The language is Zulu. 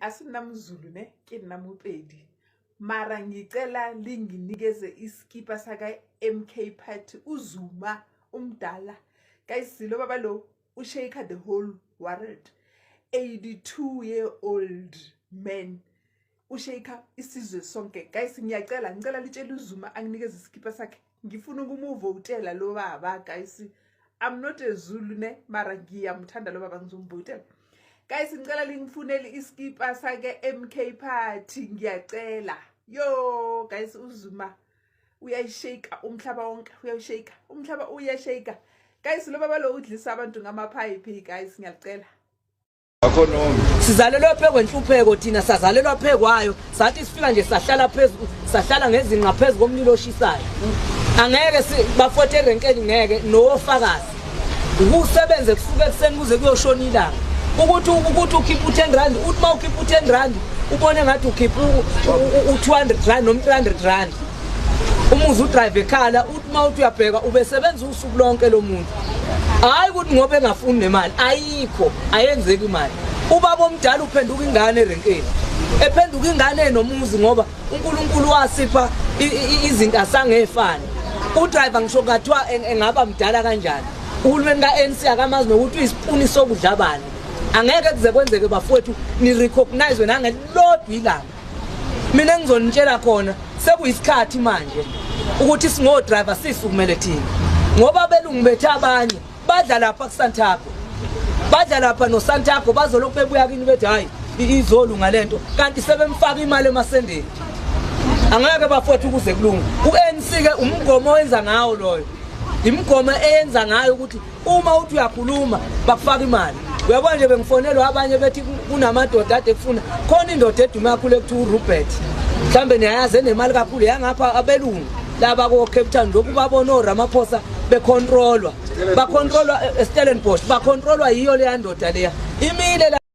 asinamzulu ne ke nna mopedi mara ngicela linginikeze iskipa saka-mk party uzuma umdala kayisilo baba lo ushaker the whole world 82 year old man ushake isizwe sonke guys ngiyacela ngicela litshela uzuma anginikeze isikhipa sakhe ngifuna ukumuvotela lo baba guys i'm not a zulu ne mara ngiyamthanda lo baba ngizomvotela guys ngicela lingifunele isikhipa sake mk party ngiyacela yo guys uzuma uyayishake umhlaba wonke uyayishake umhlaba uyashake guys lo baba lo udlisa abantu ngamaphayiphi guys ngiyacela sizalelwe phezu kwenhlupheko thina sazalelwa phezu kwayo sathi sifika nje sahlala phezu sahlala ngezinqa phezu komlilo oshisayo angeke bafothe erenkeni ngeke nowofakazi ukusebenze kusuke ekuseni kuze kuyoshona ilanga ukuthi ukuthi ukhipha u-ten rand uthi uma ukhipha u-ten rand ubone ngathi ukhipha u-two hundred rand noma u-three hundred rand umuzi udrive ekhala uthi uma uthi uyabheka ubesebenza usuku lonke lo muntu hayi ukuthi ngoba engafuni nemali ayikho ayenzeki imali ubaba omdala uphenduka ingane erenkeni ephenduka ingane enomuzi ngoba uNkulunkulu wasipha izinto asangefani udriver ngisho kathiwa engaba mdala kanjani uhulumeni ka-ANC akamazi nokuthi uyisipuni sokudla bani angeke kuze kwenzeke bafowethu ni-recognize nangelilodwa ilanga mina engizonitshela khona sekuyisikhathi manje ukuthi singodriver sisukumele thina ngoba abelungu bethu abanye badla lapha kusantago badla lapha nosantago bazolokhu bebuya kini bethi hhayi izolunga le nto kanti sebemfaka imali emasendeni angeke bafowethu ukuze kulunge u-anc-ke umgomo owenza ngawo loyo imigomo eyenza ngayo ukuthi uma uthi uyakhuluma bakufaka imali uyabona nje bengifonelwa abanye bethi kunamadoda ade kufuna khona indoda edume kakhulu ekuthiwa urobert mhlawumbe niyayazi enemali kakhulu yangapha abelungu laba ko-cape town lokhu babona oramaphosa bekhontrolwa bakhontrolwa eh, estellenbosh bakhontrolwa yiyo leya ndoda leya imile